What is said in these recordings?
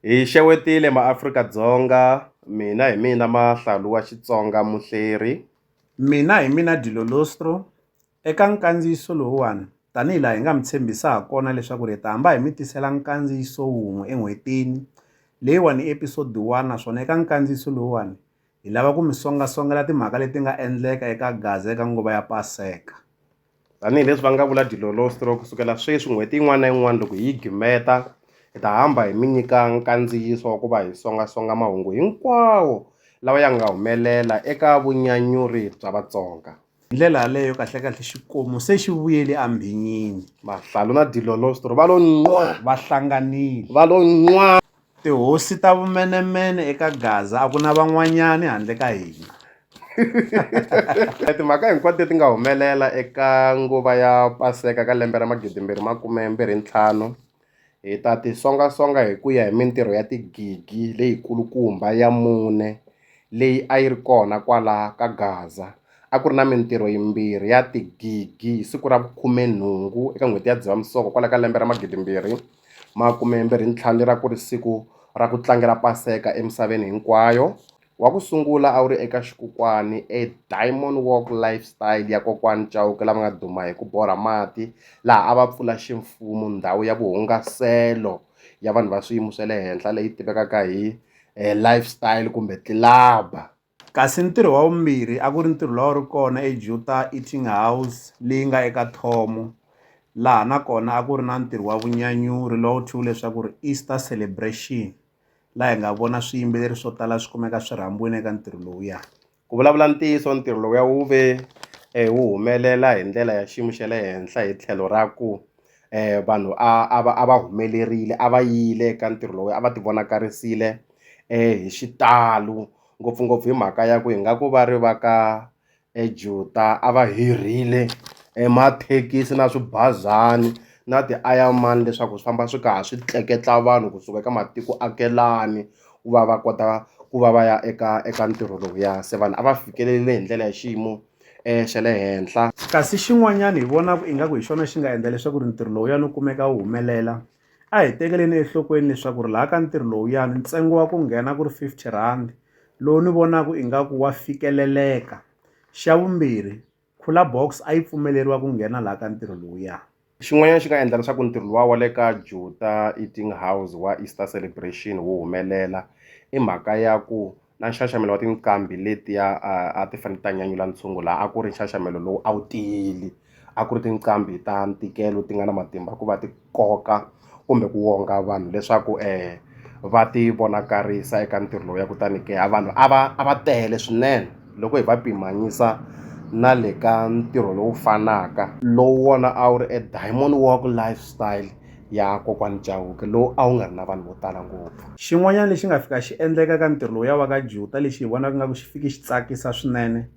Hi xewetile maAfrika-Dzonga, mina hi mina Mahlalu wa Xitsonga Muhleri. Mina hi mina Dilo Lostro. Eka nkandziyiso lowuwani, tanihi laha hi nga mi tshembisa ha kona leswaku ri hi ta hamba hi mi tisela nkandziyiso wun'we en'hwetini. Leyiwani i episode one naswona eka nkandziyiso lowuwani hi lava ku mi songasongela timhaka leti nga endleka eka Gaza eka nguva ya Paseka. Tanihi leswi va nga vula Dilolostro, ku sukela sweswi n'hweti yin'wana na yin'wana loko hi yi gimeta, hi ta hamba hi mi nyika nkandziyiso wa ku va hi songa-songa mahungu hinkwawo lawa ya nga humelela eka vunyanyuri bya Vatsonga. Hi ndlela yaleyo kahle-kahle xikomu se xi vuyele embhinyini. Mahlalu na Dilolostro va lo nqwaa! Va hlanganile. Va lo nqwaa! Tihosi ta vumenemene eka Gaza a ku na van'wanyani handle ka hina. Timhaka hinkwato leti nga humelela eka nguva ya Paseka ka lembe ra magidimbirhi makume mbirhi ntlhanu hi ta ti songa-songa hi ku ya hi mintirho ya tigigi leyikulukumba ya mune leyi a yi ri kona kwala ka Gaza. A ku ri na mintirho yimbirhi ya tigigi hi siku ra vukhume-nhungu eka n'hweti ya Dzivamisoko kwala ka lembe ra magidimbirhi. Makumembirhintlhanu lera ku ri siku ra ku tlangela Paseka emisaveni hinkwayo. Wa ku sungula a wu ri eka xikokwani eDiamond Walk Lifestyle ya kokwani Chauke lava nga duma hi ku borha mati laha a va pfula ximfumo ndhawu ya vuhungaselo ya vanhu va swiyimo swa le henhla leyi tivekaka hi lifestyle kumbe tlilaba. Kasi ntirho wa vumbirhi a ku ri ntirho lowu a wu ri kona eJuta Eating House leyi nga eka Thomo, laha na kona a ku ri na ntirho wa vunyanyuri lowu thyiweke leswaku ri Easter Celebration, laha hi nga vona swiyimbeleri swo tala swi kumeka swi rhambiwile eka ntirho lowuya. Ku vulavula ntiyiso, ntirho lowuya wu ve wu humelela hi ndlela ya xiyimo xa le henhla hi tlhelo ra ku, eh, vanhu a va humelerile a va yile ka ntirho lowu a va tivonakarisile eh, hi xitalo ngopfungopfu hi mhaka ya ku hi nga ku va ri va ka ejuta eh, a va hirhile emathekisi na swibazani na ti-ironman leswaku swi famba swi kaha swi tleketla vanhu kusuka eka matiko akelani ku va va kota ku va va ya eka eka ntirho lowuya se vanhu a va fikelelile hi ndlela ya xiyimo xa le henhla kasi xin'wanyana hi vonaku ingaku hi xona xi nga endla leswaku ri ntirho lowuyani wu kumeka wu humelela a hi tekeleni enhlokweni leswaku ri laha ka ntirho lowuyani ntsengo wa ku nghena ku ri fifty rhandi lowu ni vonaku ingaku wa fikeleleka xa vumbirhi cooler box a yi pfumeleriwa ku nghena laha ka ntirho lowuya. Xin'wanyana xi nga endla leswaku ntirho luwa wa le ka Juta Eating House wa Easter Celebration wu humelela i mhaka ya ku na nxaxamelo wa tinqambi letiya a a ti fane ti ta nyanyula ntshungu la a ku ri nxaxamelo lowu a wu tiyile a ku ri tinqambi ta ntikelo ti nga na matimba ku va ti koka. kumbe ku wonga vanhu leswaku va ti vonakarisa eka ntirho lowu ya kutani ke a vanhu a va a va tele swinene loko hi va pimanyisa na le ka ntirho lowu fanaka lowu wona a wu ri e diamond walk lifestyle ya kokwani Chauke lowu a wu nga ri na vanhu vo tala ngopfu. Xin'wanyana lexi nga fika xi endleka ka ntirho lowu ya va ka Juta lexi hi vonaka nga ku xi fiki xi tsakisa swinene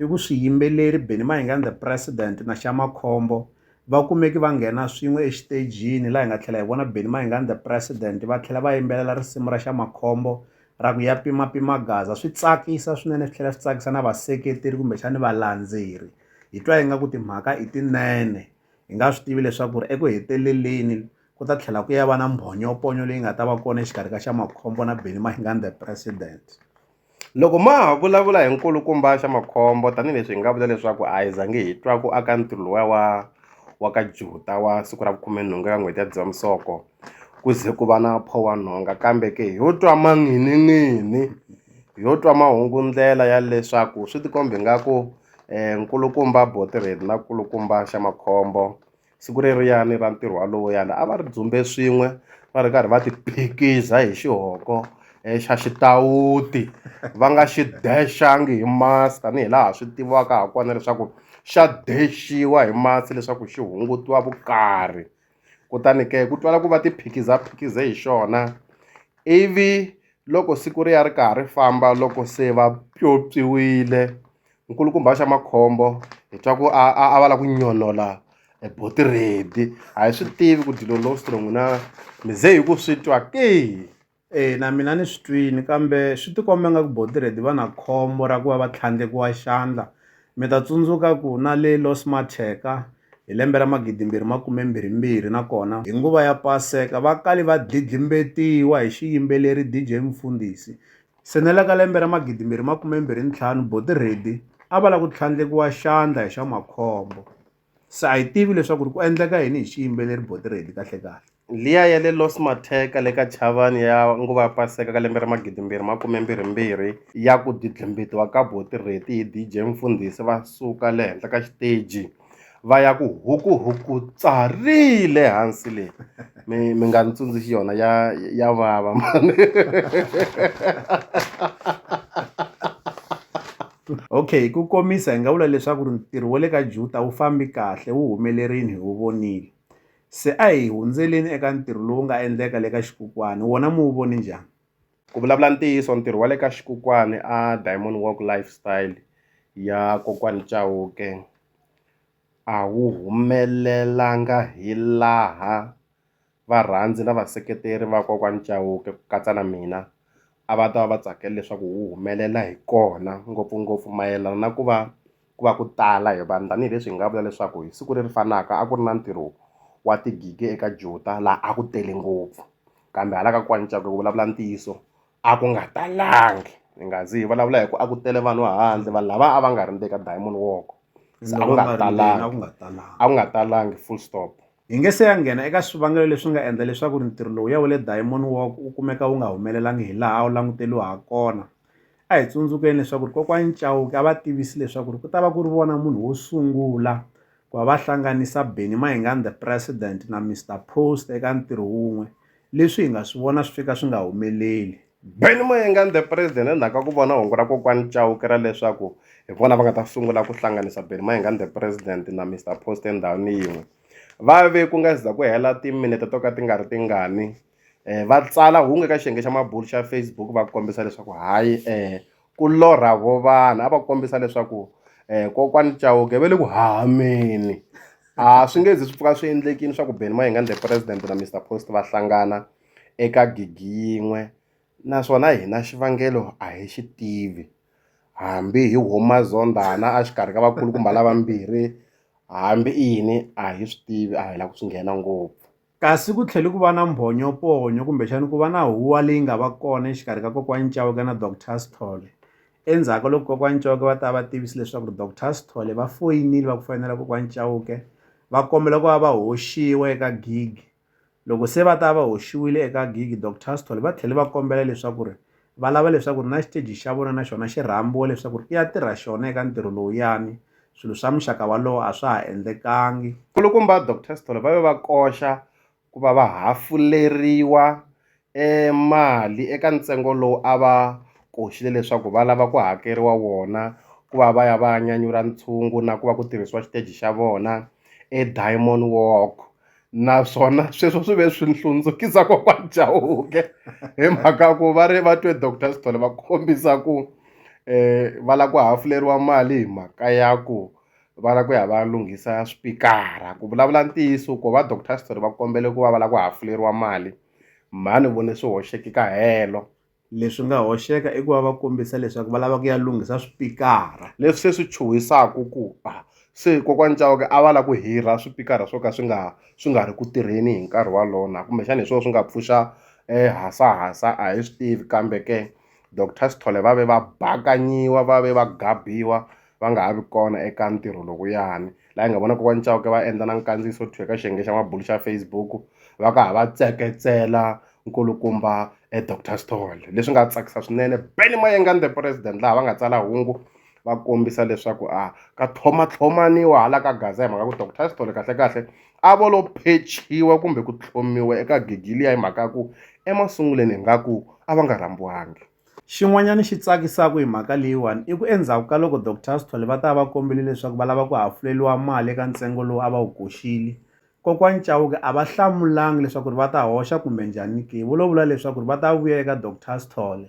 i ku swiyimbeleri Benny Mayengani the president na Xa Makhombo. Va kumeke va nghena swin'we exitejini laha hi nga tlhela hi vona Benny Mayengani The President va tlhela va yimbelela risimu ra Xa Makhombo ra ku Ya Pima Pima Gaza. Swi tsakisa swinene swi tlhela swi tsakisa na vaseketeri kumbexani valandzeri. Hi twa ingaku timhaka i tinene hi nga swi tivi leswaku ri eku heteleleni ku ta tlhela ku ya va na mbhonyoponyo leyi nga ta va kona exikarhi ka Xa Makhombo na Benny Mayengani The President. Loko ma ha vulavula hi nkulukumba Xa-Makhombo tanihileswi hi nga vula leswaku a hi zangi hi twa ku aka ntirho lowuya wa wa ka Juta wa siku ra vukhume-nhungu eka n'hweti ya Dzivamisoko ku ze ku va na Pho-wa-Nhonga kambe ke hi yo twa manghini-nghini hi yo twa mahungu ndlela ya leswaku swi tikomba ingaku nkulukumba Botirheli na nkulukumba Xa-Makhombo siku reriyani ra ntirho wa lowuyani a va ri dzumbe swin'we va ri karhi va ti phikiza hi xihoko xa xitawuti va nga xi dexangi hi masi tanihi laha swi tiviwaka ha kona leswaku xa dexiwa hi masi leswaku xi hungutiwa vukarhi kutani ke ku twala ku va ti phikiza phikize hi xona ivi loko siku ri ya ri karhi ri famba loko se va pyopyiwile nkulukumba xa makhombo hi twa ku a a va lava ku nyonola e boti ready a hi swi tivi ku dilo low strong na mi ze hi ku swi twa ke e na mina ni swi twini kambe swi tikomba nga ku boti ready va na khombo ra ku va va tlhandlekiwa xandla mi ta tsundzuka ku na le Los Matheka hi lembe ra magidi mbirhi makume mbirhi mbirhi nakona hi nguva ya paseka va kale va dlidlimbetiwa hi xiyimbeleri DJ Mfundisi Se na le ka lembe ra 2025, buti Reddy a va lava ku tlhandlekiwa xandla hi swa makhombo. Se a hi tivi leswaku ku endleka yini hi xiyimbeleri buti Reddy kahle-kahle. Liya ya le Los Matheka le ka Chavani ya nguva ya Paseka ka lembe ra 2022 ya ku dlidlimbitiwa ka buti Reddy hi DJ Mfundhisi va suka le henhla ka xiteji. va ya ku hukuhuku tsarile hansi leyi mi mi nga ni tsundzuxi yona ya ya vava mani okay ku komisa hi nga vula leswaku ri ntirho wa le ka juta wu fambi kahle wu humelerile hi wu vonile se a hi hundzeleni eka ntirho lowu nga endleka le ka xikukwana wona mi wu voni njhani Ku vulavula ntiyiso ntirho wa le ka xikokwani a Diamond Walk Lifestyle ya kokwani Chauke a wu humelelanga hi laha varhandzi na vaseketeri va kokwani Chauke ku katsa na mina a va ta va va tsakele leswaku wu humelela hi kona ngopfungopfu mayelana na ku va ku va ku tala hi vanhu tanihileswi hi nga vula leswaku hi siku leri fanaka a ku ri na ntirho wa tigigi eka juta laha a ku tele ngopfu kambe hala ka kwani cakwe ku vulavula ntiyiso a ku nga talangi hi nga zi hi vulavula hi ku a ku tele vanhu handle vanhu lava a va nga ri ndzeni ka diamond walk a ku nga talangi a ku nga talangi full stop Hi nge se ya nghena eka swivangelo leswi nga endla leswaku ri ntirho lowuya wa le Diamond Walk wu kumeka wu nga humelelangi hi laha a wu languteriwa ha kona. A hi tsundzukeni leswaku ri kokwani Chauke a va tivisi leswaku ri ku ta va ku ri vona munhu wo sungula ku va va hlanganisa Benny Mayengani The President na Mister Post eka ntirho wun'we, leswi hi nga swi vona swi fika swi nga humeleli. Benny Mayengani the president endzhaku ka ku vona hungu ra kokwani Chauke ra leswaku hi vona va nga ta sungula ku hlanganisa Benny Mayengani the president na Mister Post endhawini yin'we va ve ku nga za ku hela timinete to ka ti nga ri tingani um va tsala hungu eka xiyenge xa mabulu xa Facebook va kombisa leswaku hayi um ku lorha vo vanhu a va kombisa leswaku um kokwani Chauke va le ku hahameni a swi nge zi swi pfuka swi endlekile swa ku Benny Mayengani the president na Mister Post va hlangana. eka gigi yin'we naswona hina xivangelo a hi xi tivi hambi hi huma zondhana a xikarhi ka vakulukumba lavambirhi hambi i yini a hi swi tivi a hi la ku swi nghena ngopfu kasi ku tlhele ku va na mbhonyoponyo kumbexani ku va na huwa leyi nga va kona exikarhi ka kokwani Chauke na Doctor Sithole endzhaku ka loko kokwani Chauke va ta va tivisi leswaku ri Doctor Sithole va foyinile va ku foyinela kokwani Chauke va kombela ku va va hoxiwa eka gigi Loko se va ta va hoxiwile eka gigi, Dok Tustall va tlhele va kombela leswaku ri va lava leswaku ri na xiteji xa vona na xona xi rhambiwa leswaku ri i ya tirha xona eka ntirho lowuyani. Swilo swa muxaka walowo a swa ha endlekangi. Nkulukumba Dok Tustall va ve va koxa ku va va hafuleriwa e mali eka ntsengo lowu a va koxile leswaku va lava ku hakeriwa wona ku va va ya va ya nyanyula ntshungu na ku va ku tirhisiwa xiteji xa vona eDiamond Walk naswona sweswo swi ve swi hlundzukisa kokwani Chauke hi mhaka ku va ri va twe doctor Sithole va kombisa ku um va lava ku hafuleriwa mali hi mhaka ya ku va lava ku ya va ya lunghisa swipikara ku vulavula ntiyiso ko va doctor Sithole va kombele ku va va lava ku hafuleriwa mali. Mhani u vone swi hoxeke ka helo. Leswi nga hoxeka i ku va va kombisa leswaku va lava ku ya lunghisa swipikara. Leswi se swi chuhisaka ku a se Kokwani Chauke a va lava ku hirha swipikara swo ka swi nga swi nga ri ku tirheni hi nkarhi wolowo na kumbexana hi swona swi nga pfuxa hasahasa a hi swi tivi kambe ke Doctor Sithole va ve va bakanyiwa va ve va gabiwa va nga ha vi kona eka ntirho lowuyani laha hi nga vona kokwani Chauke va endla na nkandziyiso thwi eka xiyenge xa mabulu xa Facebook va ka ha va tseketsela nkulukumba e Doctor Sithole leswi nga tsakisa swinene Benny Mayengani the president laha va nga tsala hungu va kombisa leswaku a ka tlhomatlhomaniwa hala ka gaza hi mhaka ku Doctor Sithole kahlekahle a vo lo phechiwa kumbe ku tlhomiwa eka gigi liya hi mhaka ya ku emasunguleni ingaku a va nga rhambiwangi Xin'wanyana xi tsakisaka hi mhaka leyiwani i ku endzhaku ka loko Doctor Sithole va ta va va kombele leswaku va lava ku hafuleriwa mali eka ntsengo lowu a va wu koxile kokwani Chauke a va hlamulanga leswaku va ta hoxa kumbe njhani ke vo lo vula leswaku va ta vuya eka Doctor Sithole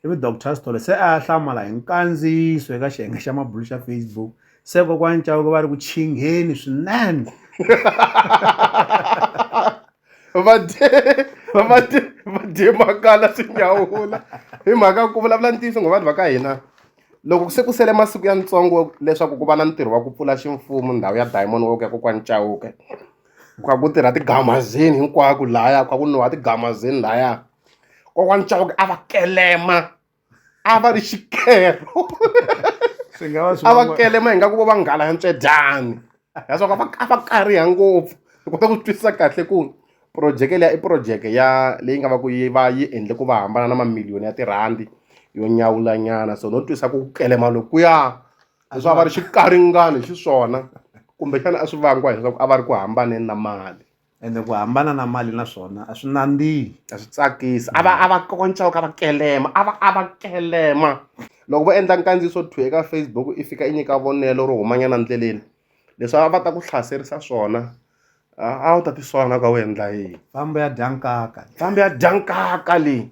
ivi Doctor Sithole se a ya hlamala hi nkandziyiso eka xiyenge xa mabulo xa Facebook se kokwani Chauke va ri ku chingheni swinene. va dye va va dye va dye makala swi nyawula hi mhaka ku vulavula ntiyiso ngo vanhu va ka hina loko se ku sele masiku ya ntsongo leswaku ku va na ntirho wa ku pfula ximfumo ndhawu ya diamond walk ya kokwani chauke kha ku tirha tigamazini hinkwako lahaya kha ku nwiwa tigamazini lahaya kokwani chauke a va kelema a va ri xikero swi nga va swi a va van'wa- kelema hi nga ku vo va nghala ya ntswedyani leswaku a va a va kariha ngopfu hi kota ku twisisa kahle ku projeke leya i projeke ya leyi nga va ku yi va yi endle ku va hambana na mamiliyoni ya tirhandi yo nyawulanyana so no twisa ku kelema lokuya leswaku a va ri xikaringani xiswona kumbexana a swi vangiwa hileswaku a va ri ku hambaneni na mali ende ku hambana na mali na swona a swi nandzihi a swi tsakisi a va a va konca ka va kelema a va a va kelema loko vo endla nkandziyiso two eka facebook i fika i nyika vonelo ro humanyana ndleleni leswi a va ta ku hlaserisa swona a wu ta tisola na ka u endla yini fambo ya dya nkaka fambo ya dya nkaka leyi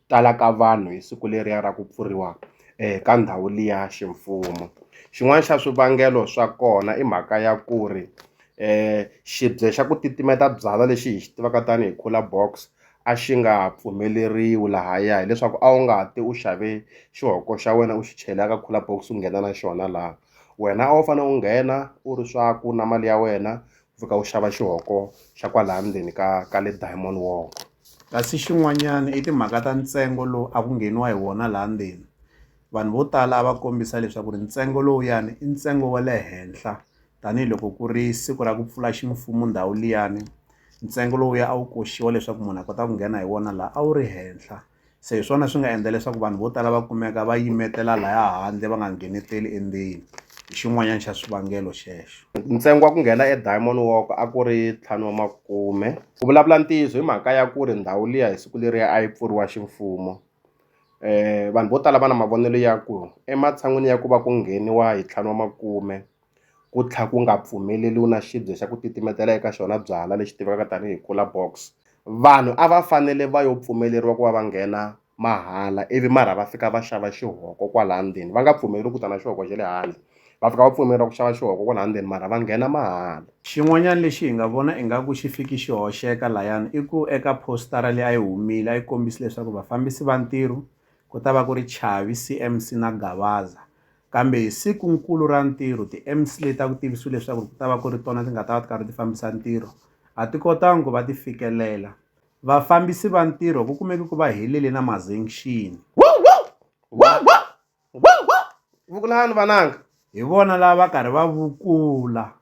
tala ka vanhu hi siku leriya ra ku pfuriwa ka ndhawu liya ximfumo xin'wana xa swivangelo swa kona i mhaka ya ku ri xibye xa ku titimeta byalwa lexi hi xi tivaka tanihi cooler box a xi nga ha pfumeleriwi lahaya hileswaku a wu nga ha ti u xave xihoko xa wena u xi chela ka cooler box u nghena na xona laha wena a wu fane u nghena u ri swaku na mali ya wena pfuka u xava xihoko xa kwalaya ndzeni ka ka le diamond walk kasi xin'wanyana i timhaka ta ntsengo lowu a ku ngheniwa hi wona laha ndzeni vanhu vo tala a va kombisa leswaku ri ntsengo lowuyani i ntsengo wa le henhla tanihiloko ku ri siku ra ku pfula ximfumo ndhawu liyani ntsengo lowuya a wu koxiwa leswaku munhu a kota ku nghena hi wona laha a wu ri henhla. se hi swona swi nga endla leswaku vanhu vo tala va kumeka va yimetela laya handle va nga ngheneteli endzeni hi xin'wanyana xa swivangelo xexo ntsengo wa ku nghena ediamond walk a ku ri ntlhanu wa makume ku vulavula ntiyiso hi mhaka ya ku ri ndhawu liya hi siku leriya a yi pfuriwa ximfumo um vanhu vo tala va na mavonelo ya ku ematshan'wini ya ku va ku ngheniwa hi ntlhanu wa makume ku tlha ku nga pfumeleriwi na xibye xa ku titimetela eka xona byala lexi tivekaka tanihi cooler box vanhu a va fanele va yo pfumeleriwa ku va va nghena mahala ivi marha va fika va xava xihoko kwala ndzeni va nga pfumeleriwi ku ta na xihoko xa le handle va fika va pfumeleriwa ku xava xihoko kwala ndzeni marha va nghena mahala xin'wanyana lexi hi nga vona ingaku xi fiki xi hoxeka layani i ku eka postara leyi a yi humile a yi kombisi leswaku vafambisi va ntirho ku ta va ku ri Chavi C_M_C na Gavaza Kambe hi siku-nkulu ra ntirho, tiMC leti a ku tivisiwe leswaku ku ta va ku ri tona ti nga ta va ti karhi ti fambisa ntirho a ti kotanga ku va ti fikelela. Vafambisi va ntirho ku kumeke ku va helele na mazengxini. Vukulani vananga! Hi vona lava va karhi va vukula.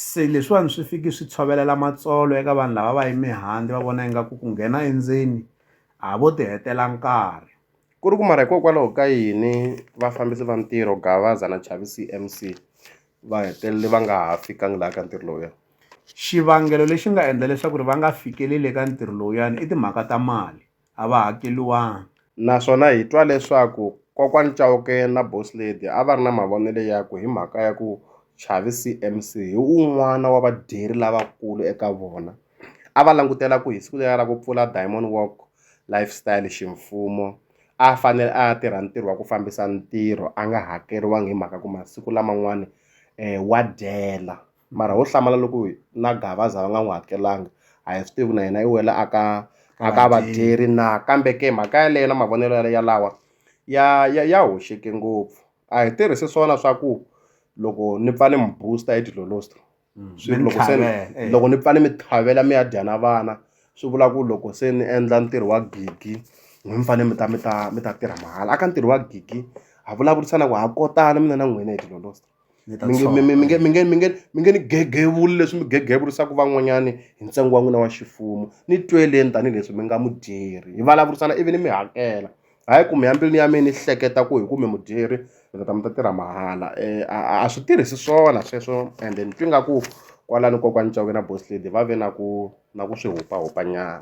Se leswiwani swi fiki swi tshovelela matsolo eka vanhu lava va yime handle va vona ingaku ku nghena endzeni a vo ti hetela nkarhi. Ku ri ku mara hikokwalaho ka yini vafambisi va ntirho Gavaza na Chavi C_M_C va hetelele va nga ha fikangi laha ka ntirho lowuya? Xivangelo lexi nga endla leswaku ri va nga fikeleli eka ntirho lowuyani i timhaka ta mali a va hakeriwanga. Naswona hi twa leswaku Kokwani Chauke na Boss Lady a va ri na mavonelo ya ku hi mhaka ya ku Chavi CMC hi un'wana wa vadyeri lavakulu eka vona. A va langutela ku hi siku leriya ra ku pfula Diamond Walk Lifestyle ximfumo a a fanele a ya tirha ntirho wa ku fambisa ntirho a nga hakeriwangi hi mhaka ku masiku laman'wani wa dyela. mara ho hlamala loko na gavaza va nga n'wi hakelanga a hi swi tivi na yena i wela a ka a ka vadyeri na kambe ke mhaka yaleyo na mavonelo ya lawa ya ya ya hoxeke ngopfu a hi tirhisi swona swa ku loko ni pfa ni mi booster hi dilolosta mm, swi loko se eh. loko ni pfa ni mi tlhavela mi ya dya na vana swi vula ku loko se ni endla ntirho wa gigi n'wi mi fanele mi ta mi ta mi ta tirha mahala a ka ntirho wa gigi ha vulavurisana ku ha kotana mina na n'wina hi dilolosta mi nge- mi- mi- mi nge- mi nge- mi nge- mi nge ni gegevuli leswi mi gegevurisaka van'wanyani hi ntsengo wa n'wina wa xifumu ni tweleni tanihileswi mi nga mudyeri hi vulavurisana ivi ni mi hakela hayi ku mi ya mbilwini ya mina ni hleketa ku hi ku mi mudyeri mi ta ta mi ta tirha mahala um a a- a swi tirhisi swona sweswo and ni twi nga ku kwalani kokwani cawke na boss lady va ve na ku na ku swi hupahupanyana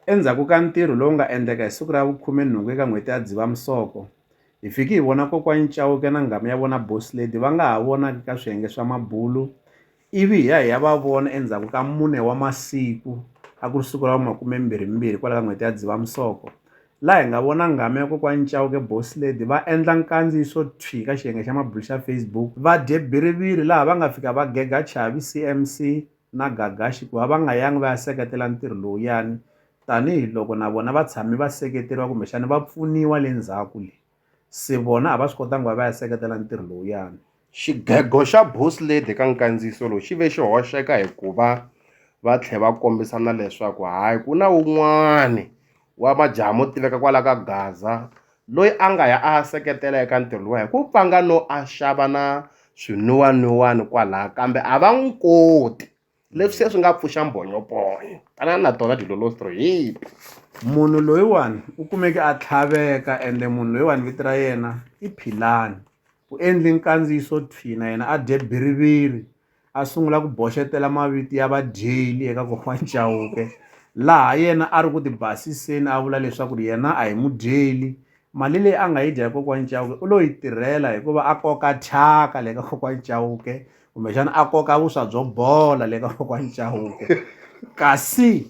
Endzhaku ka ntirho lowu nga endleka hi siku ra vukhume-nhungu eka n'hweti ya Dzivamisoko, hi fike hi vona Kokwani Chauke na nghamu ya vona Boss Lady va nga ha vonaki ka swiyenge swa mabulo ivi hi ya hi ya va vona endzhaku ka mune wa masiku a ku ri siku ra vu makume-mbirhi-mbirhi kwala ka n'hweti ya Dzivamisoko laha hi nga vona nghamu ya Kokwani Chauke, Boss Lady va endla nkandziyiso thwi ka xiyenge xa mabulo xa Facebook va dye bhiriviri laha va nga fika va gega Chavi, CMC, na Gagashi ku va va nga yangi va ya seketela ntirho lowuyani tanihi loko na vona va tshame va seketeriwa kumbexana va pfuniwa le ndzhaku le, se vona a va swi kotanga ku va va ya seketela ntirho lowuyani. Xigego xa Booslade eka nkandziyiso lowu xi ve xi hoxeka hi ku va va tlhe va kombisa na leswaku hayi ku na wun'wani wa majaha mo tiveka kwala ka Gaza loyi a nga ya a ya seketela eka ntirho luwa hi ku pfanga no a xava na swinwiwanwiwani kwalaha kambe a va n'wi koti leswi se swi nga pfuxa mbhonyophonya tanani na tona dilolostro hi munhu loyiwani u kumeke a tlhaveka ende munhu loyiwani vito ra yena i philani u endle nkandziyiso thwi na yena a dye biriviri a sungula ku boxetela mavito ya vadyeli eka kokwana Chauke laha yena a ri ku ti basiseni a vula leswaku yena a hi mudyeli mali leyi a nga yi dya hi kokwana Chauke u lo yi tirhela hikuva a koka thyaka le ka kokwana Chauke kumbexana a koka vuswa byo bola le ka kokwana Chauke kasi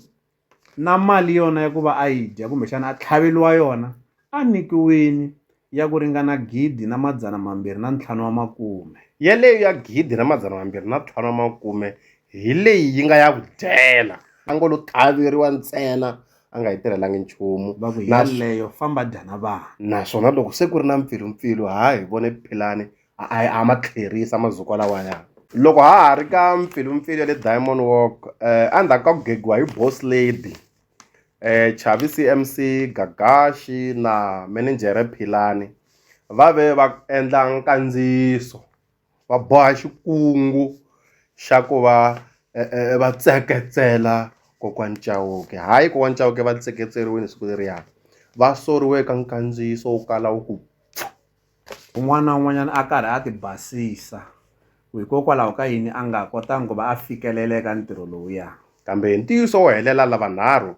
na mali yona ya ku va a yi dya kumbexana a tlhaveriwa yona a nyikiwile ya ku ringana gidi na madzana mambirhi na ntlhanu wa makume. Yaleyo ya gidi na madzana mambirhi na ntlhanu wa makume hi leyi yi nga ya ku dyela. A ngo lo tlhaveriwa ntsena a nga yi tirhelangi nchumu. Va ku yaleyo famba dya na vana. Naswona loko se ku ri na mpfilumpfilu ha hi vone Philani a ma tlherisa mazukwa lawaya loko ha ha ri ka mpfilumpfilu ya le diamond walk um endzhaku ka ku gegiwa hi boss lady um chavi C_M_C gagaxi na minijere philani va ve va endla nkandziyiso va boha xikungu xa ku va um va tseketsela kokwani chauke hayi kokwani chauke va tseketseriwini siku leriya va soriwe ka nkandziyiso wo kala wu ku pfu. Un'wana na un'wanyana a karhi a ti basisa ku hikokwalaho ka yini a nga kotanga ku va a fikelela eka ntirho lowuya. Kambe hi ntiyiso wo helela lavanharhu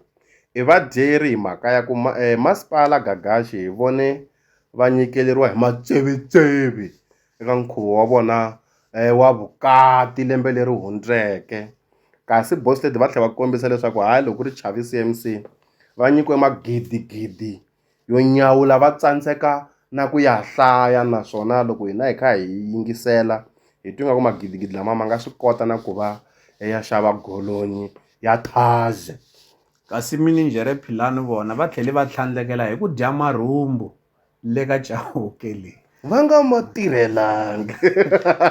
i vadyeri hi mhaka ya ku eh, Masipala Gagashi hi vone va nyikeleriwa hi matsevetseve eka nkhuvo wa vona eh, wa vukati lembe leri hundzeke. Kasi Boss Lady va tlhela va kombisa leswaku hayi loko ku ri Chavi CMC va nyikiwe magidigidi yo nyawula va tsandzeka na ku ya hlaya naswona loko hina hi kha hi yingisela hi twi nga ku magidigidi lama ma nga swi kota na ku va ya xava golonyi ya thazz-e kasi mininjhere philani vona va tlhele va tlhandlekela hi ku dya marhumbu le ka chauke leyi va nga ma tirhelanga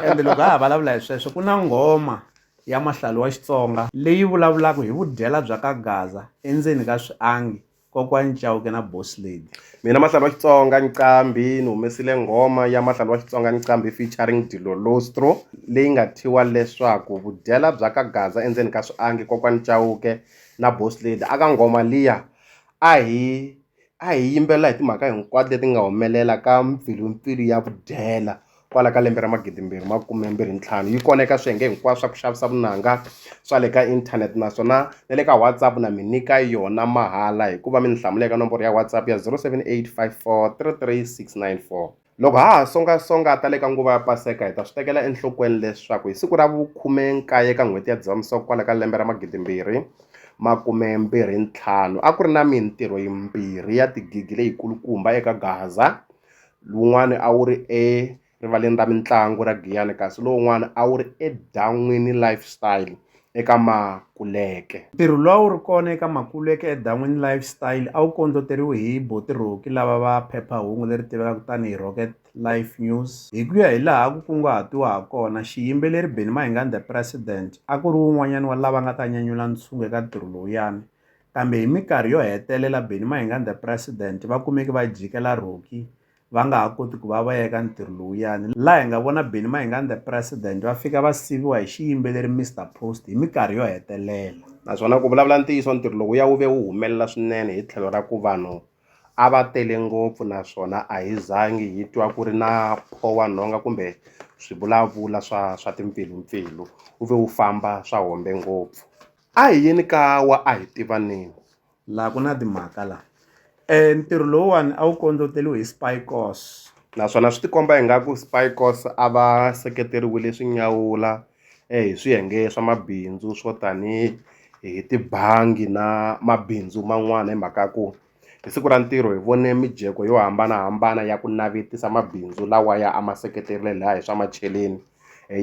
ende loko ha ha vulavula hi sweswo ku na nghoma ya mahlalo wa xitsonga leyi vulavulaka hi vudyela bya ka gaza endzeni ka swiangi Kokwani Chauke na Boss Lady. Mina Mahlalo wa Xitsonga Nqambi ni humesile nghoma ya Mahlalo wa Xitsonga Nqambi featuring Dilolostro leyi nga thyiwa leswaku vudyela bya ka Gaza endzeni ka swiangi kokwani Chauke na Boss Lady a ka nghoma liya a hi a hi yimbelela hi timhaka hinkwato leti nga humelela ka mpfilumpfilu ya vudyela kwala ka lembe ra magidimbirhi makume mbirhi ntlhanu yi kona eka swiyenge hinkwaswo swa ku xavisa vunanga swa le ka inthanete naswona na le ka whatsapp na mi nyika yona mahala hikuva mi ni hlamula eka nomboro ya whatsapp ya 0785433694 loko ha ha songasonga ta le ka nguva ya paseka hi ta swi tekela enhlokweni leswaku hi siku ra vukhume nkaye ka n'hweti ya dzivamisoko kwala ka lembe ra magidimbirhi makume mbirhi ntlhanu a ku ri na mintirho yimbirhi ya tigigi leyikulukumba eka gaza wun'wani a wu ri erivaleni ra mitlangu ra Giyani kasi lowun'wani a wu ri eDan'wini Lifestyle eka Makuleke. Ntirho lowu a wu ri kona eka Makuleke eDan'wini Lifestyle a wu kondloteriwe hi Boti Roki lava va phepha-hungu leri tivekaka tani hi Rocket Life News. Hi ku ya hi laha ku kunguhatiwa ha kona, xiyimbeleri Benny Mahingani The President a ku ri wun'wanyani wa lava nga ta nyanyula ntshungu eka ntirho lowuyani. Kambe hi mikarhi yo hetelela Benny Mayenganda President va kumeke va jike la Rocky va nga ha koti ku va va yeka ntirho lowuyani laha hi nga vona Benny Mayenganda President va fika va siviwa hi xiyimbeleri Mr Post hi mikarhi yo hetelela. Naswona ku vulavula ntiyiso ntirho lowuya wu ve wu humelela swinene hi tlhelo ra ku vanhu a va tele ngopfu naswona a hi zangi hi twa ku ri na pho wa nhonga kumbe swivulavula swa swa timpfilumpfilu wu ve wu famba swa hombe ngopfu. A hi yeni ka wa a hi tivaneni. Laha ku na timhaka laha. E ntirho lowuwani a wu kondloteriwe hi Spykos. Naswona swi ti komba ingaku Spykos a va seketeriwile swi nyawula hi swiyenge swa mabindzu swo tanihi hi tibangi na mabindzu man'wana hi mhaka ya ku. Hi siku ra ntirho hi vone mijeko yo hambanahambana ya ku navetisa mabindzu lawa ya a ma seketerile laya hi swa macheleni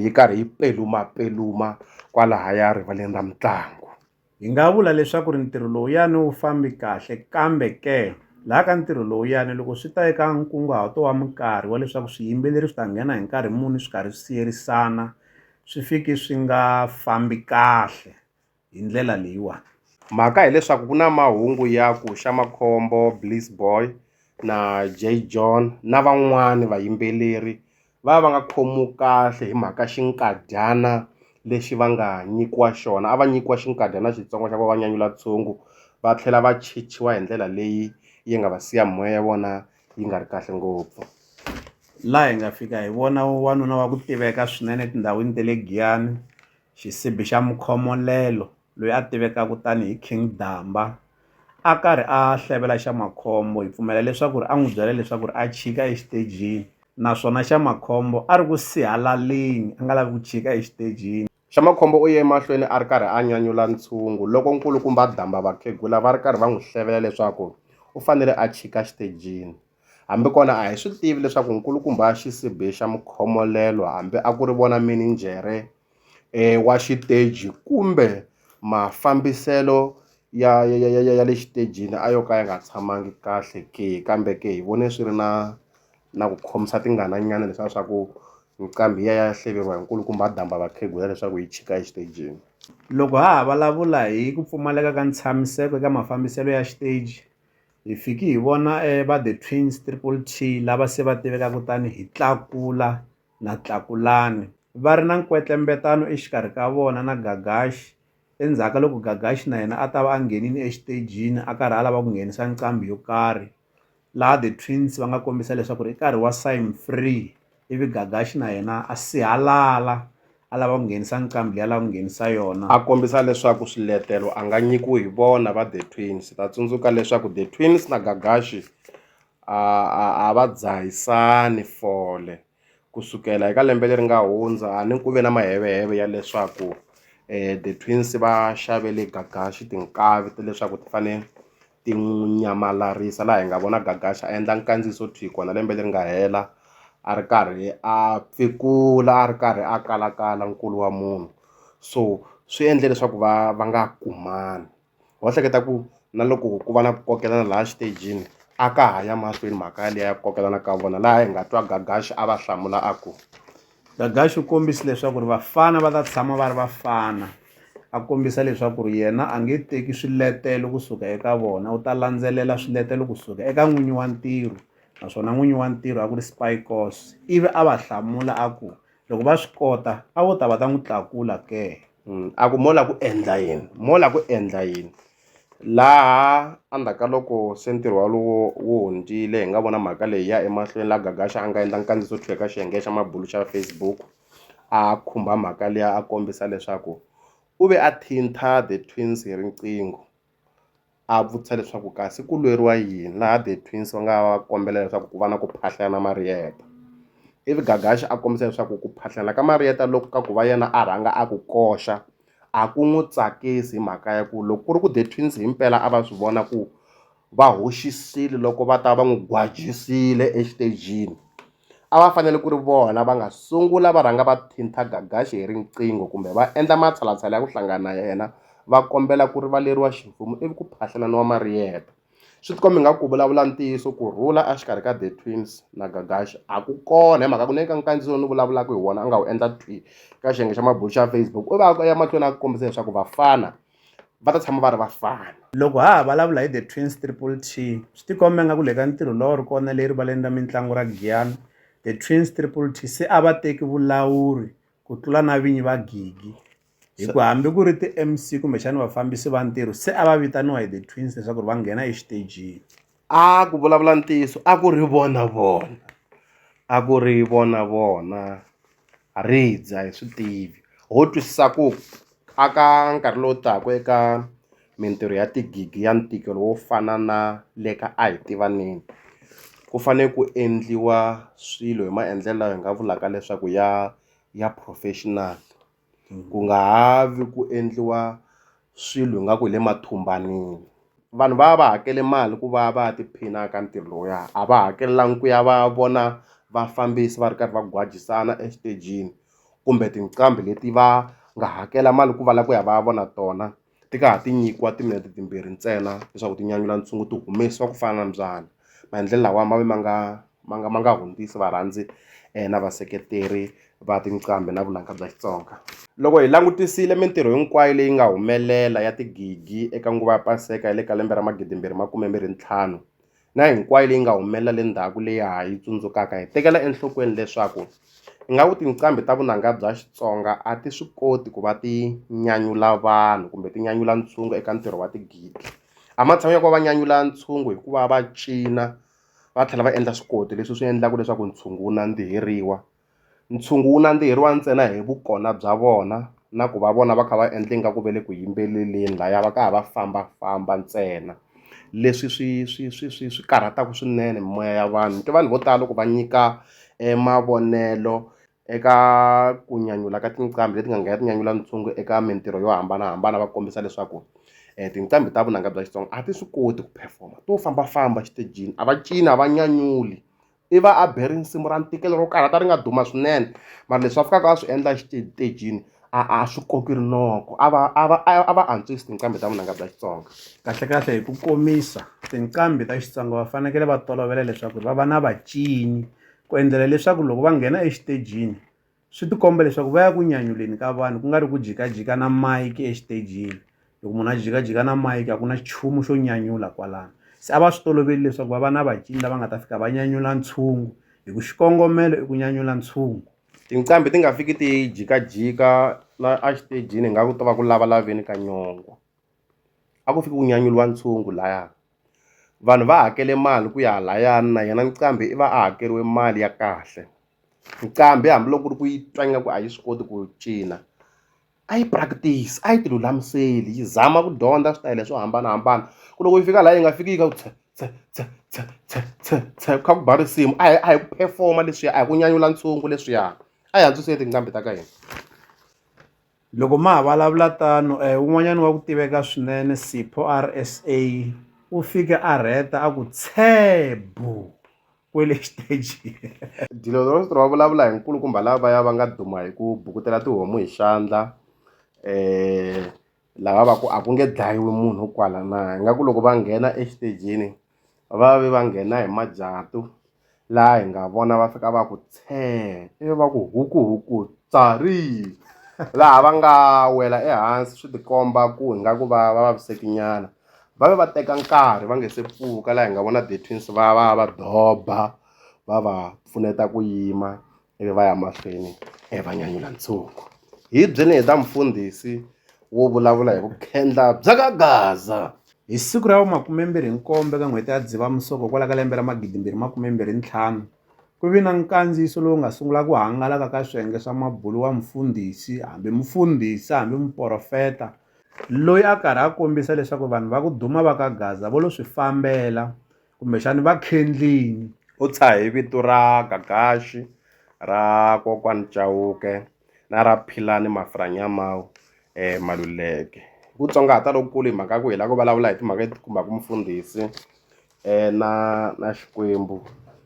yi karhi yi pelumapeluma kwalahaya rivaleni ra mitlangu. Hi nga vula leswaku ri ntirho lowuyani wu fambi kahle kambe ke laha ka ntirho lowuyani loko swi ta eka nkunguhato wa minkarhi wa leswaku swiyimbeleri swi ta nghena hi nkarhi muni swi karhi swi siyerisana swi fiki swi nga fambi kahle. hi ndlela leyiwani mhaka hileswaku ku na mahungu ya ku xa makhombo bliss boy na jay john na van'wani vayimbeleri va va nga khomiwi kahle hi mhaka xinkadyana lexi va nga nyikiwa xona a va nyikiwa xinkadyana xitsongo xa ku va va nyanyula ntshungu va tlhela va chichiwa hi ndlela leyi yi nga va siya moya ya vona yi nga ri kahle ngopfu laha hi nga fika hi vona wanuna wa ku tiveka swinene etindhawini ta le giyani Xisibi xa Mukhomolelo, loyi a tivekaka tani hi King Damba, a karhi a hlevela Xamakhombo hi pfumela leswaku a n'wi byela leswaku a chika exitejini naswona Xamakhombo a ri ku sihalaleni a nga lavi ku chika exitejini. Xamakhombo u ye emahlweni a ri karhi a nyanyula ntshungu loko nkulukumba Damba vakhegula va ri karhi va n'wi hlevela leswaku u fanele a chika xitejini. Hambi kona a hi swi tivi leswaku nkulukumba wa xisibi xa mukhomolelo hambi a ku ri vona mininjhere e wa xiteji kumbe mafambiselo ya ya ya ya ya le xitejini a yo ka ya nga tshamangi kahle ke kambe ke hi vone swi ri na na ku khomisa tingana nyana leswiya swa ku nqambi yi ya ya hleveriwa hi nkulukumba a damba vakhegula leswaku yi chika exitejini. Loko ha ha vulavula hi ku pfumaleka ka ntshamiseko eka mafambiselo ya xiteji Hi fiki hi vona va The Twins, Triple T, lava se va tivekaka tani hi Tlakula na Tlakulani va ri na nkwetlembetano exikarhi ka vona na Gagashi. Endzhaku ka loko Gagashi na yena a ta va a nghenile exitejini a karhi a lava ku nghenisa nqambi yo karhi laha The Twins va nga kombisa leswaku i nkarhi wa sign free. ivi Gagaxi na yena a sihalala a lava ku nghenisa nqambi leyi a lava ku nghenisa yona a kombisa leswaku swiletelo a nga nyikiwi hi vona va The Twins ta tsundzuka leswaku The Twins na Gagaxi a a a va dzahisani fole ku sukela eka lembe leri nga hundza a ni ku ve na maheveheve ya leswaku The Twins va xavele Gagaxi tinkavi ta leswaku ti fane ti n'wi nyamalala laha hi nga vona Gagaxa a endla nkandziyiso thwii kona lembe leri nga hela a ri karhi a pfikula a ri karhi a kalakala nkulu wa munhu so swi endle leswaku va va nga kumani ho hleketa ku na loko ku va na ku kokelana laha xitejini a ka ha ya mahlweni mhaka yaleyo ya ku kokelana ka vona laha hi nga twa Gagaxa a va hlamula a ku. Gagax u kombise leswaku ri vafana va ta tshama va ri vafana a kombisa leswaku ri yena a nge teki swiletelo kusuka eka vona u ta landzelela swiletelo kusuka eka n'winyi wa ntirho naswona n'winyi wa ntirho a ku ri Spykos ivi a va hlamula a ku loko va swi kota a vo ta va ta n'wi tlakula ke mm, a ku mola ku endla yini mola ku endla yini laha endzhaku ka loko se ntirho walowo wu hundzile hi nga vona mhaka leyi ya emahlweni la gagaxa a nga endla nkandziso tlhe ka xiyenge xa mabulu xa facebook a khumba mhaka liya a kombisa leswaku u ve a thintha the twins hi riqingho a vutisa leswaku kasi ku lweriwa yini laha the twins va nga va kombela leswaku ku va na ku phahlelana mariyeta ivi gagaxi a kombisa leswaku ku phahlelana ka mariyeta loko ka ku va yena a rhanga a ku koxa a ku n'wi tsakisi hi mhaka ya ku loko ku ri ku the twins hi mpela a va swi vona ku va hoxisile loko va ta va n'wi gwajisile exitejini. a va fanele ku ri vona va nga sungula va rhanga va thinta Gagaxi hi riqingho kumbe va endla matshalatshala ya ku hlangana na yena va kombela ku rivaleriwa ximfumo ivi ku phahlelaniwa mariyeta swi tikomba nga ku vulavula ntiyiso ku rhula exikarhi ka the twins na Gagaxi a ku kona hi mhaka ku ne ka nkandziyo ni vulavulaka hi wona a nga wu endla twi ka xiyenge xa mabulo xa Facebook u va ya mahlweni a kombisa leswaku vafana va ta tshama va ri vafana. Loko ha ha vulavula hi The Twins Triple T, swi tikomba ingaku le ka ntirho lowu a wu ri kona le erivaleni ra mintlangu ra Giyani, The Twins Triple T se a va teki vulawuri ku tlula na vinyi va gigi hi ku hambi ku ri ti-M_C kumbexana vafambisi va ntirho se a va vitaniwa hi The Twins leswaku va nghena exitejini. a ku vulavula ntiyiso a ku ri vona vona a ku ri vona vona ha ri dya hi swi tivi ho twisisa ku a ka nkarhi lowu taka eka mintirho ya tigigi ya ntikelo wo fana na le ka a hi tivaneni ku fanele ku endliwa swilo hi maendlelo lawa hi nga vulaka leswaku ya ya professional. ku nga ha vi ku endliwa swilo hi nga ku hi le mathumbanini vanhu va va va hakele mali ku va va ya tiphina ka ntirho lowuya a va hakelanga ku ya va ya vona vafambisi va ri karhi va gwajisana exitejini kumbe tinqambi leti va nga hakela mali ku va la ku ya va ya vona tona. ti nga ha ti nyikiwa timinete timbirhi ntsena leswaku ti nyanyula ntshungu ti humesiwa ku fana na mbyana maendlelo lawa ma ve ma nga ma nga ma nga hundzisi varhandzi na vaseketeri va tinqambi na vunanga bya Xitsonga loko hi langutisile mintirho hinkwayo leyi nga humelela ya tigigi eka nguva ya paseka ya le ka lembe ra magidi mbirhi makume mbirhi ntlhanu na hinkwayo leyi nga humelela le ndzhaku leyi ha yi tsundzukaka hi tekela enhlokweni leswaku ingaku tinqambi ta vunanga bya Xitsonga a ti swi koti ku va ti nyanyula vanhu kumbe ti nyanyula ntshungu eka ntirho wa tigidi a matshan'wini ya ku va va nyanyula ntshungu hi ku va va cina va tlhela va endla swikoti leswi swi endlaka leswaku ntshungu wu nandziheriwa. Ntshungu wu nandziheriwa ntsena hi vukona bya vona na ku va vona va kha va endla ingaku va le ku yimbeleleni lahaya va ka ha va fambafamba ntsena leswi swi swi swi swi swi karhataku swinene mimoya ya vanhu ni twa vanhu vo tala loko va nyika mavonelo eka ku nyanyula ka tinqambi leti nga nghena ti nyanyula ntshungu eka mintirho yo hambanahambana va kombisa leswaku tinqambi ta vunanga bya Xitsonga a ti swi koti ku perform-a to fambafamba exitejini a va cina a va nyanyuli. i va a be risimu ra ntikelo ro karhata ri nga duma swinene mara leswi a fikaka a swi endla xitejini a a swi koki rinoko a va a va a va antswisi tinqambi ta vunanga bya xitsonga kahlekahle hi ku komisa tinqambi ta xitsonga va fanekele va tolovela leswaku va va na vacini ku endlela leswaku loko va nghena exitejini swi tikomba leswaku va ya ku nyanyuleni ka vanhu ku nga ri ku jikajika na mayiki exitejini loko munhu a jikajika na mayiki a ku na nchumu xo nyanyula kwalano se a va swi toloveli leswaku va va na vacini lava nga ta fika va nyanyula ntshungu hi ku xikongomelo i ku nyanyula ntshungu tinqambi ti nga fiki ti jikajika la exitejini hi nga ku to va ku lavalaveni ka nyongo a ku fiki ku nyanyuriwa ntshungu laya vanhu va hakele mali ku ya layani na yena nqambi i va a hakeriwe mali ya kahle nqambi hambiloko ku ri ku yi twanga ku a yi swi koti ku cina a yi practice a yi ti lulamiseli yi zama ku dyondza switayele swo hambanahambana ku loko yi fika laha yi nga fiki yi ka ku tshe tshe tshe tshe tshe tshe tshe kha ku ba risimu a hi a hi ku perform-a leswiya a hi ku nyanyula ntshungu leswiya a hi antswiseni tinqambi ta ka hina. Loko ma ha vulavula tano un'wanyana wa ku tiveka swinene Sipho RSA u fike a rheta a ku tshee bu kwele xitejini. Dilozorositro va vulavula hi nkulukumba lavaya va nga duma hi ku bukutela tihomu hi xandla lava va ku a ku nge dlayiwi munhu kwala na ingaku loko va nghena exitejini va ve va nghena hi majatu laha hi nga vona va fika va ku tshee ivi va ku hukuhuku tswari laha va nga wela ehansi swi tikomba ku ingaku va va vaviseki nyana va ve va teka nkarhi va nga se pfuka laha hi nga vona the twins va va va doba va va pfuneta ku yima. ivi va ya mahlweni e va nyanyula ntshungu hi byeni hi ta mufundhisi wo vulavula hi vukhendla bya ka gaza hi siku ra vumakumembirhi nkombe ka n'hweti ya dzivamusoko kwala ka lembe ra magidimbirhi makumembirhi ntlhanu ku vi na nkandziyiso lowu nga sungula ku hangalaka ka swiyenge swa mabulu wa mufundhisi hambi mufundhisi hambi muporofeta loyi a karhi a kombisa leswaku vanhu va ku duma va ka gaza vo lo swi fambela Kumbexani va khendlini. U tshahe vito ra Gagaxi, ra kokwani Chauke na ra Philani Mafurhanyamau e Maluleke. Hi ku tsongahata lokukulu hi mhaka ya ku hi la ku vulavula hi timhaka leti khumbaka mufundhisi na na Xikwembu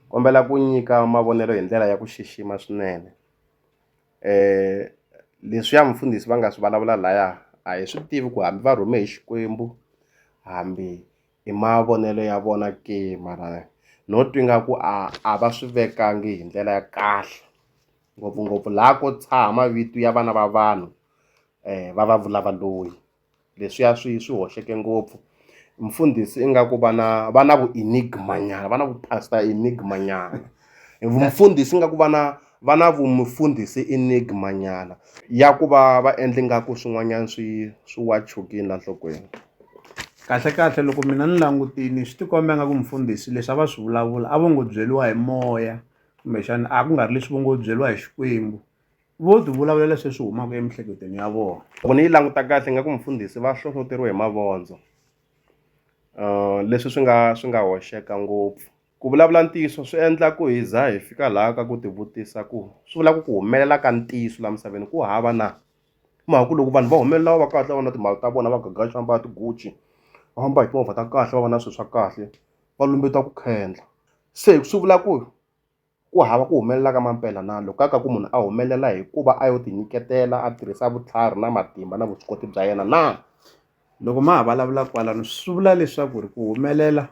kombela ku nyika mavonelo hi ndlela ya ku xixima swinene leswiya mufundhisi va nga swi vulavula laya a hi swi tivi ku hambi va rhume hi Xikwembu hambi hi mavonelo ya vona ke mara no twa ingaku a a va swi vekangi hi ndlela ya kahle ngopfungopfu laha ko tshaha mavito ya vana va vanhu va va vula va loyi leswiya swi swi hoxeke ngopfu mfundhisi ingaku vana va na vu enigma nyana va na vu pastor enigma nyana. E vumfundhisi ingaku vana va na vumfundhisi enigma nyana ya ku va va endla ingaku swin'wanyana swi swi wa chukini la nhlokweni. Kahlekahle loko mina ni langutini swi ti komba ingaku mufundhisi leswi a va swi vulavula a vo ngo byeriwa hi moya kumbexana a ku nga ri leswi vo ngo byeriwa hi Xikwembu vo ti vulavulela se swi humaka emiehleketweni ya vona. Loko ni yi languta kahle ingaku mufundhisi va hlohloteriwe hi mavondzo leswi swi nga swi nga hoxeka ngopfu. Ku vulavula ntiyiso swi endla ku hi za hi fika laha ka ku tivutisa ku swi vula ku ku humelela ka ntiyiso laha misaveni ku hava na hi mhaka ku loko vanhu va humelela va va kahle va va na timali ta vona va gagaxa va mbala tigucci va famba hi timovha ta kahle va va na swilo swa kahle va lumbeta ku khendla se swi vula ku Ku hava ku humelela ka mampela na loko ka ka ku munhu a humelela hi ku va a yo tinyiketela a tirhisa vutlhari na matimba na vuswikoti bya yena na. Loko ma ha vulavula kwalano swi vula leswaku ri ku humelela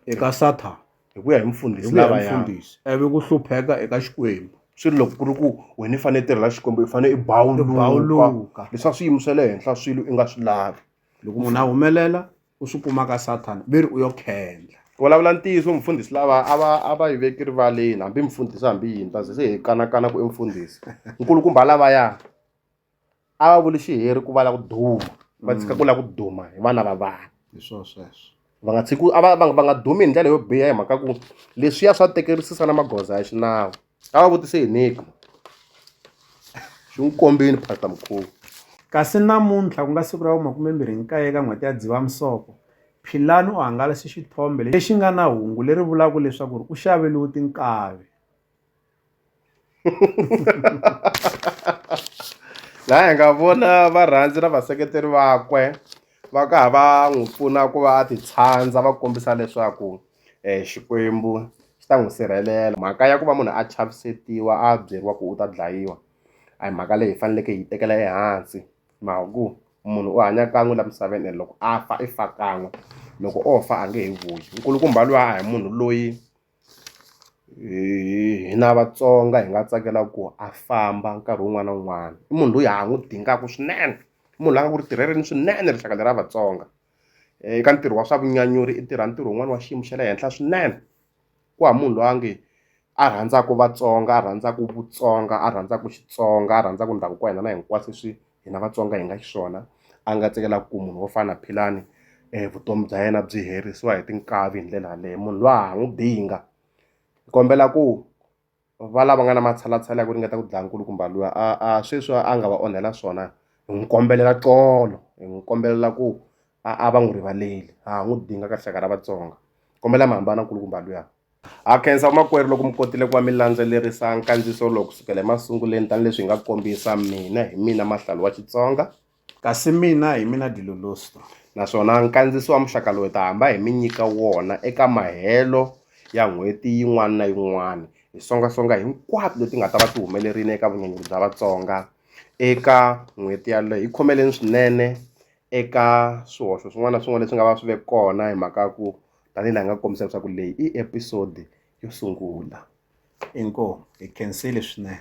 eka Sathana hi ku ya hi mufundhisi lava ya mufundhisi ivi ku hlupheka eka Xikwembu. Swi ri loko ku ri ku wena i fanele i tirhela Xikwembu i fanele i bawuluka leswaku swiyimo swa le henhla swilo i nga swi lavi loko munhu a humelela u swi kuma ka sathana ve ri u yo khendla ku vulavula ntiyiso mufundhisi lava a va a va yi veki rivaleni hambi mufundhisi hambi yini ta ze se hi kanakana ku i mufundhisi nkulukumba lavaya a va vuli xiheri ku va la ku duma va tshika ku la ku duma hi vana va vanhu hi swo sweswo va nga tshiki a va va va nga dumi hi ndlela yo biha hi mhaka ku leswiya swa tekerisisa na magoza ya xinawu a va vutise hi Nick xi n'wi kombini Pastor Mukhomi kasi namuntlha ku nga siku ra vumakumembirhi nkaye eka n'hweti ya Dzivamisoko Philani u hangalase xithombe lexi nga na hungu leri vulaka leswaku ri u xaveliwe tinkavi laha hi nga vona varhandzi na vaseketeri vakwe va ka ha va n'wi pfuna ku va a titshandza va kombisa leswaku um xikwembu xi ta n'wi sirhelela mhaka ya ku va munhu a chavisetiwa a byeriwa ku u ta dlayiwa a hi mhaka leyi hi faneleke hi yi tekela ehansi mhaka ku munhu u hanya kan'we la misaveni and loko a fa i fa kan'we loko o fa a nge he vuyi nkulukumba luya a hi munhu loyi hina vatsonga hi nga tsakela ku a famba nkarhi wun'wana na wun'wana i munhu loyi ha n'wi dingaka swinene i munhu la nga ku ri tirheleni swinene rixaka lera vatsonga. eh, eka ntirho wa swa vunyanyuri i tirha ntirho wun'wana wa xiyimo xa le henhla swinene ku ha munhu loyi a nge a rhandzaka vatsonga a rhandzaka vutsonga a rhandzaka xitsonga a rhandzaka ndhavuko wa hina na hinkwaswo leswi hina vatsonga hi nga xiswona a nga tsakelaka ku munhu wo fana na philani um vutomi bya yena byi herisiwa hi tinkavi hi ndlela yaleyo munhu loyi a ha n'wi binga hi kombela ku va lava nga na matshalatshala ya ku ringeta ku dlaya nkulukumba luya a a sweswi a nga va onhela swona hi n'wi kombelela tolo hi n'wi kombelela ku a a va n'wi rivaleli ha n'wi dinga ka rixaka ra vatsonga kombela mi hambana nkulukumba luya ha khensa vamakwerhu loko mi kotile ku va mi landzelerisa nkandziyiso lowu kusukela emasunguleni tanihileswi hi nga kombisa mina hi mina mahlalu wa xitsonga Kasi mina, hi mina Dilolosto, naswona nkandziso wa muxaka lowu hi ta hamba hi mi nyika wona eka mahelo ya n'hweti yin'wana na yin'wana, hi songa-songa hinkwato leti nga ta va ti humelerile eka vunyanyuri bya Vatsonga eka n'hweti yaleyo. Hi khomeleni swinene eka swihoxo swin'wana na swin'wana leswi nga va swi ve kona hi mhaka ya ku tanihi laha hi nga kombisa leswaku leyi i episode yo sungula. Inkomu. Hi khensile swinene.